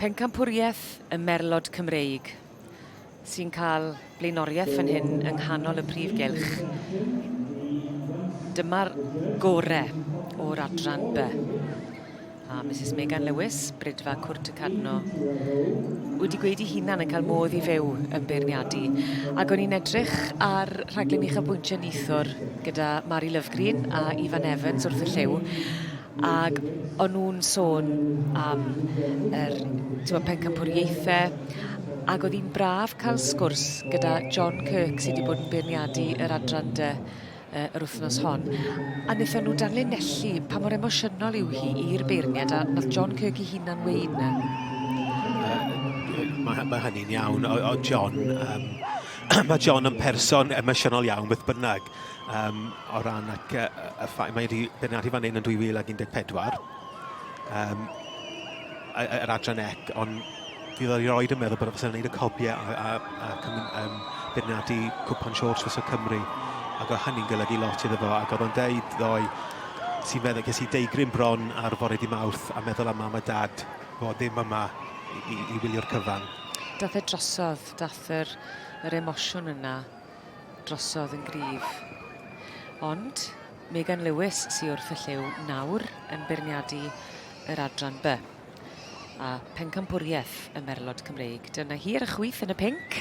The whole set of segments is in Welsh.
Pencampwriaeth y merlod Cymreig sy'n cael blaenoriaeth fan hyn yng nghanol y prif gylch. Dyma'r gore o'r adran B. A Mrs Megan Lewis, Brydfa Cwrt y Cadno, wedi gweud i hunan yn cael modd i fyw yn beirniadu. Ac o'n i'n edrych ar rhaglen uchafbwyntio Nithwr gyda Mari Lovegreen a Ifan Evans wrth y llyw. Ac o'n nhw'n sôn am yr t'mo' pencampwriaethe ac oedd hi'n braf cael sgwrs gyda John Kirk sy' 'di bod yn beirniadu yr adran dy yy yr wythnos hon a nethon nhw danlinellu pa mor emosiynol yw hi i'r beirniad a nath John Kirk 'i hunan weud 'ny. Yy ie ma' ma' hynny'n iawn o- o'dd John yym ma' John yn person emosiynol iawn beth bynnag. um, o ran ac, uh, y ffaith mae wedi beirniadu fan hyn yn 2014 um, yr adran ec ond fydd o'i roed yn meddwl bod e'n gwneud y copiau a, a, a, a um, beirniadu cwpan siôrs fes o Cymru ac oedd hynny'n golygu lot iddo fo ac oedd o'n deud ddoi sy'n meddwl ges i deigryn bron ar fore di mawrth a meddwl am mam a dad fod ddim yma i, i, i wylio'r cyfan dath e drosodd, dath yr, yr emosiwn yna. drosodd yn gryf. Ond Megan Lewis sy wrth y lliw nawr yn beirniadu yr adran by. A pencampwriaeth y merlod Cymreig. Dyna hi ar y chwyth yn y pink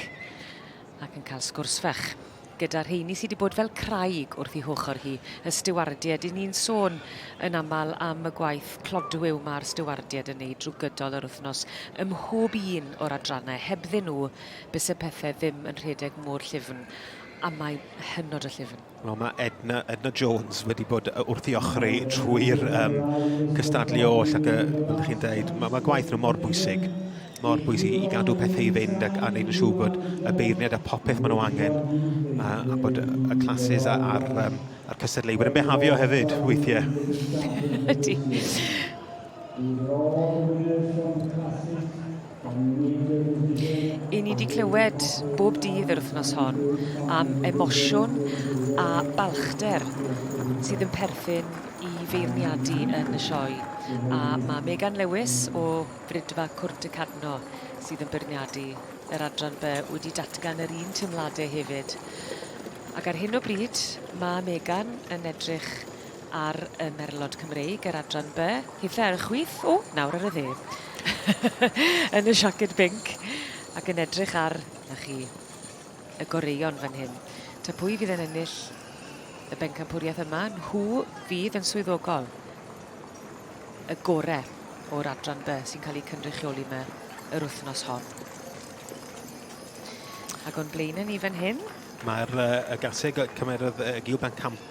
ac yn cael sgwrs fach gyda rheini sydd wedi bod fel craig wrth ei hochr hi, y stiwardied. I ni'n sôn yn aml am y gwaith clodwiw mae'r stiwardied yn ei drwy gydol yr wythnos ym mhob un o'r adrannau. Hebddyn nhw, byse pethau ddim yn rhedeg mor llyfn, a mae'n hynod o llyfn. Wel, mae Edna, Edna Jones wedi bod wrth i ochri trwy'r um, cystadlu oll ac, fel ydych chi'n dweud, mae, mae gwaith nhw mor bwysig mor bwysig i gadw pethau i fynd ac a wneud yn siŵr bod y beirniad a popeth maen nhw angen a, a bod y classes a'r, ar, um, ar cystadleuwyr yn behafio hefyd weithiau. Ydy. I ni 'di clywed bob dydd yr wythnos hon am emosiwn a balchder sydd yn perthyn i feirniadu yn y sioe a mae Megan Lewis o Frydfa Cwrt y Cadno sydd yn beirniadu yr adran by wedi datgan yr un teimladau hefyd ac ar hyn o bryd mae Megan yn edrych ar y merlod Cymreig, yr adran by, hithau ar y chwith, o, nawr ar y dde, yn y siaced binc, ac yn edrych ar, na chi, y goreuon fan hyn. Ta pwy fydd yn ennill y bencampwriaeth yma, nhw fydd yn swyddogol y gorau o'r adran by sy'n cael ei cynrychioli yma yr wythnos hon. Ac o'n blaenau ni fan hyn, Mae'r uh, y garteg cymerodd uh, Gil Bencampwriaeth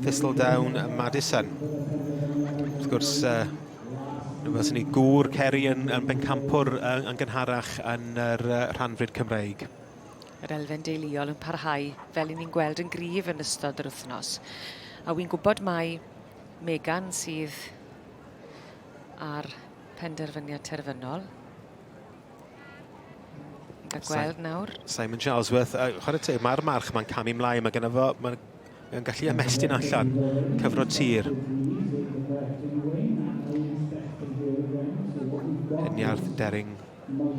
Thistledown a Madison. Wrth gwrs, uh, fel sy'n ni gŵr Ceri yn, yn bencampwr yn, yn gynharach yn yr uh, rhanfryd Cymreig. Yr elfen deuluol yn parhau fel i ni'n gweld yn gryf yn ystod yr wythnos. A wy'n gwybod mai Megan sydd ar penderfyniad terfynol. A gweld nawr. Simon Charlesworth, uh, chwarae teg, mae'r march mae'n camu mlaen, mae gen fo, mae Mae'n gallu ymestyn allan, cyfro tir. Heniarth Dering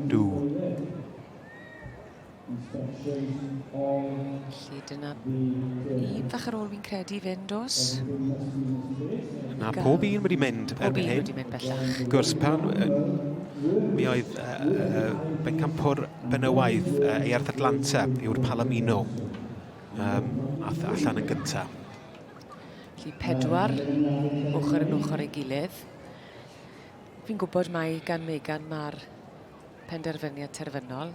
Dw. Felly dyna un fach ar ôl fi'n credu fynd os. Na, pob un wedi mynd pob erbyn hyn. Pob un wedi mynd bellach. Gwrs, pan, mi oedd uh, uh, bencampwr benywaidd uh, Earth Atlanta yw'r Palomino Um, ath allan yn gynta. Felly pedwar ochr yn ochr ei gilydd. Fi'n gwybod mai gan Megan mae'r penderfyniad terfynol.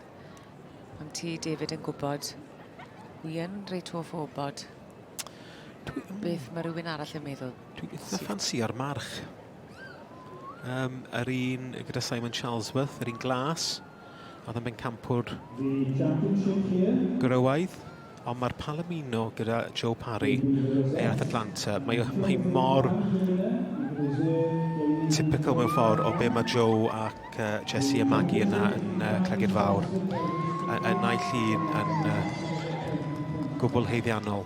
Ond ti, David, yn gwybod, wi yn reit hoff o wybod Dwi... beth mae rhywun arall yn meddwl. Dwi'n eitha ffansi ar march. Um, yr un gyda Simon Charlesworth, yr un glas. Oedd yn bencampwr gwrywaidd, ond mae'r Palomino gyda Joe Parry, Aeth Atlanta. Mae, mae mor typical mewn ffordd o be mae Joe ac uh, Jesse a Maggie yna yn uh, Cregyd Fawr. Y, y naill un yn uh, gwbl heiddiannol.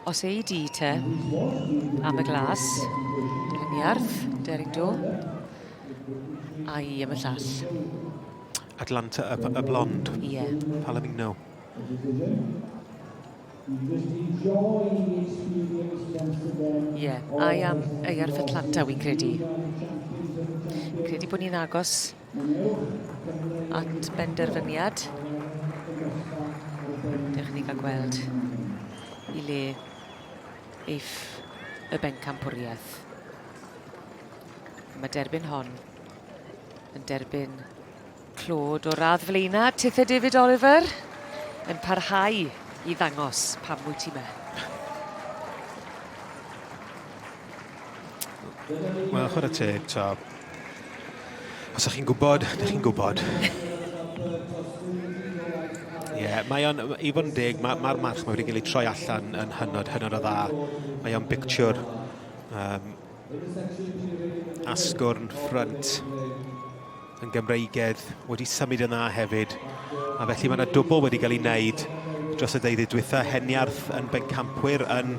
Os ei di te. Am y glas. Gliniarth, Deryn Do. A i am y llall. Atlanta y, y blond. Ie. Yeah. Palomino. Ie, yeah. a i am ei arff Atlanta, wy'n credu. Fi'n credu bod ni'n agos at benderfyniad. Dewch i ni gael gweld i le eif y bencampwriaeth. Mae derbyn hon yn derbyn clod o radd flaena Tithe David Oliver yn parhau i ddangos pam wyt ti me. Wel, chwarae teg, ta. Os ych chi'n gwybod, ydych chi'n gwybod. Ie, yeah, mae o'n, i fod yn deg, mae'r ma march mae wedi cael ei troi allan yn hynod, hynod o dda. Mae o'n bictiwr um, asgwrn ffrynt yn Gymreigedd wedi symud yna hefyd, a felly mae yna dwbl wedi cael ei wneud dros y deuddydd dwytha, Heniarth yn bencampwyr yn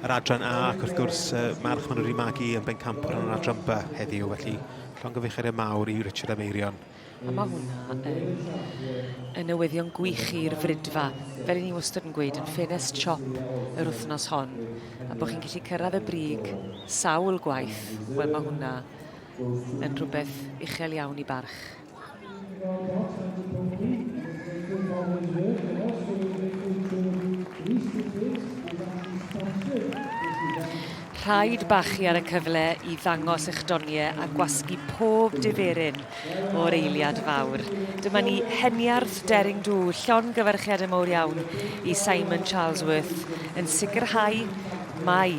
yr adran A, ac wrth gwrs uh, March maen nhw wedi magu yn bencampwr yn yr adran B heddiw, felly llongyficheriad mawr i Richard Ameirion. A mae hwnna yn, yn newyddion gwych i'r fridfa. Fel i ni wastad yn gweud, yn ffenest siop yr wythnos hon, a bod chi'n gallu cyrraedd y brig sawl gwaith, wel mae hwnna yn rhywbeth uchel iawn i barch. Rhaid bachu ar y cyfle i ddangos eich doniau a gwasgu pob diferyn o'r eiliad fawr. Dyma ni, Heniarth Daring Do, llongyfarchiadau mowr iawn i Simon Charlesworth yn sicrhau mai